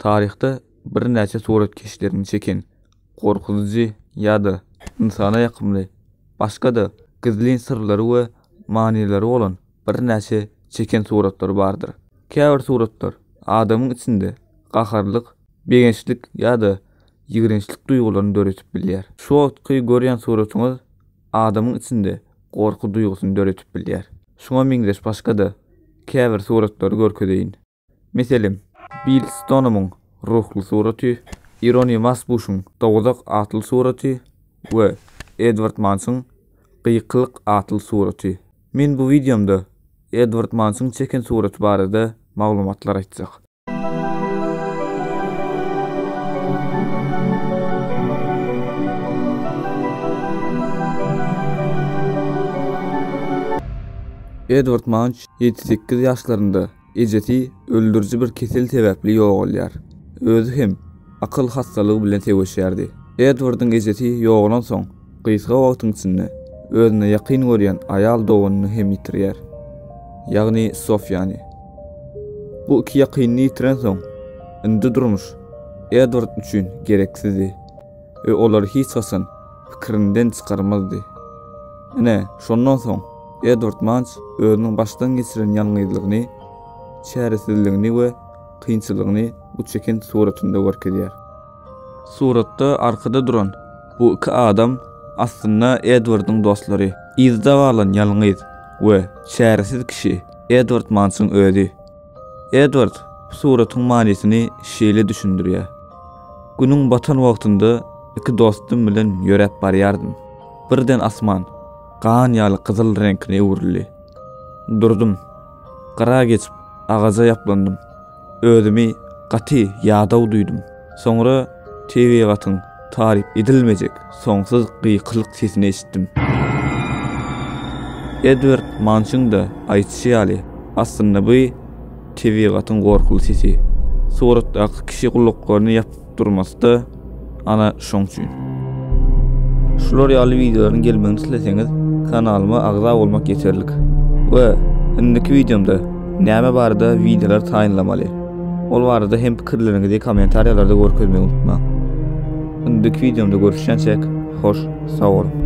Taryhda birnäçe suratkeşleriň çeken gorkuzyjy ýa-da ynsana ýakymly, başga-da gizlin syrlary we manylary bolan birnäçe çeken suratlary bardyr. Käbir suratlar adamyň içinde gaharlyk, begençlik ýa-da ýigrençlik duýgularyny döredip bilýär. Şu wagtky görýän suratyňyz adamyň içinde gorky duýgusyny döredip bilýär. Şuňa meňzeş başga-da käbir suratlary görkezeýin. Meselem, Bill Stonomyň Ruhly suraty, Ironi Masbuşyň Dowzah atly suraty we Edward Mansyň Gykylyk atly suraty. Men bu wideomda Edward Mansyň çeken suraty barada maglumatlar aýtjak. Edward Manç ýedi-sekiz ýaşlarynda Ejesi öldüriji bir kesel sebäpli ýogalýar. Özi hem akyl hassalygy bilen söweşýärdi. Edwardyň ejesi ýogalansoň, gysga wagtyň içinde özüne ýakyn görýän aýal doganyny hem ýitirýär. Ýagny Sofiýany. Bu iki ýakynyny ýitirensoň, indi durmuş Edward üçin gereksizdi. we olary hiç haçan pikirinden çykarmazdy. Ine, şondan soň Edward Manç özüniň başdan geçiren ýalňyzlygyny, çäresizligini we kynçylygyny bu çeken suratynda görkezýär. Suratda arkada duran bu iki adam aslynda Edwardyň dostlary. Yzda galan ýalňyz we çäresiz kişi Edward Mançyň özi. Edward bu suratyň manysyny şeýle düşündirýär. Günüň batan wagtynda iki dostum bilen ýöräp barýardym. Birden asman gan ýaly gyzyl reňkine öwrüldi. Durdum. Gyra geçip, agaja ýaplandym. Özümi gaty ýadaw duýdum. Soňra tebigatyň taryp edilmejek soňsuz gykylyk sesini eşitdim. Edward Mançyň-da aýdyşy ýaly, aslynda bu tebigatyň gorkuly sesi. Suratdaky kişi gulaklaryny ýapyp durmasy-da ana şoň üçin. Şular ýaly wideolaryň gelmegini isleseňiz, kanalyma agza bolmak ýeterlik. We, indiki wideomda näme barada wideolar taýynlamaly? Ol barada hem pikirleriňizi kommentariýalarda görkezmegi unutmaň. Öňündeki wideomda görüşýänçäk, hoş sag boluň!